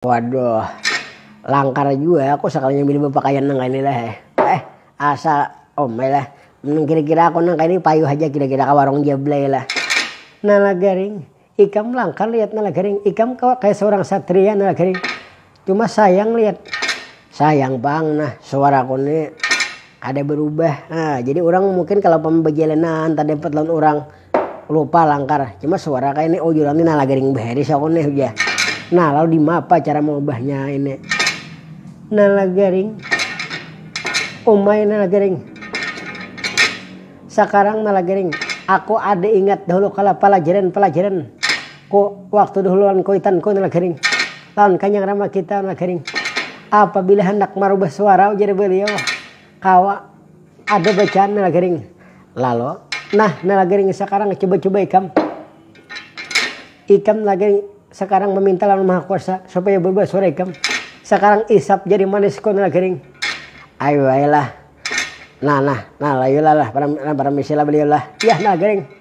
Waduh. Langkar jua aku sakalinya milih bapakaian nang kaini lah eh. Eh, asa omai lah. Nang kira-kira aku nang kaini payuh haja kira-kira ka warung Jablay lah. Nalagaring, ikam langkar liat Nalagaring. Ikam kawa kaya saurang satria Nalagaring. Cuma sayang liat. Sayang pang nah, suaraku ni kada barubah. Nah, jadi urang mungkin kalo pambajalanan tadapat lawan urang. Lupa langkar, cuma suara kaya ini ujuran ni nah lagi ring bahiris aku nih ujar. Nah lalu dimapa cara maubahnya ini. Nah lagi ring umai nah lagi ring sakarang nah lagi ring aku ada ingat dahulu kala palajaran palajaran ku waktu dahulu lawan kuitan ku nah lagi ring lawan kanyang rama kita nah lagi ring apabila handak marubah suara ujar baliau. Kawa ada bacaan nala garing lalo. Nah nala garing sakarang cuba-cuba ikam. Ikam nala garing sakarang meminta lawan maha kuasa supaya berubah suara ikam. Sakarang isap jadi manis ko nala garing. Ayu ai lah. Nah nah nah layu lah lah param paramisi lah beliau lah. Yah nala garing.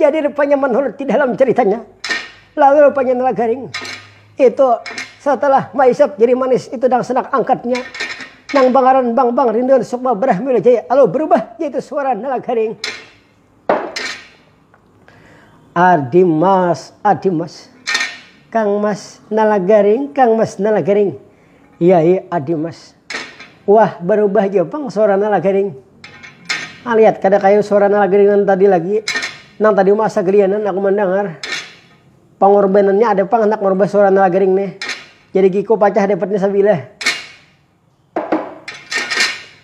Jadi rupanya menurut di dalam ceritanya, lalu rupanya Nala Garing itu setelah maisap jadi manis itu dang senak angkatnya nang bangaran Bang Bang Rinduan Sukma Brahmila Jaya lalu berubah yaitu suara Nala Garing. Adimas, Adimas, Kang Mas Nala Garing, Kang Mas Nala Garing. Yai Adimas. Wah, barubah jua pang suara Nalagering. Alihat kada kaya suara Nalagering nang tadi lagi. Nang tadi uma asa gelianan aku mandangar. Pangorbanannya ada pang handak marubah suara Nalagering nih. Jadi giku pacah dapatnya sabilah.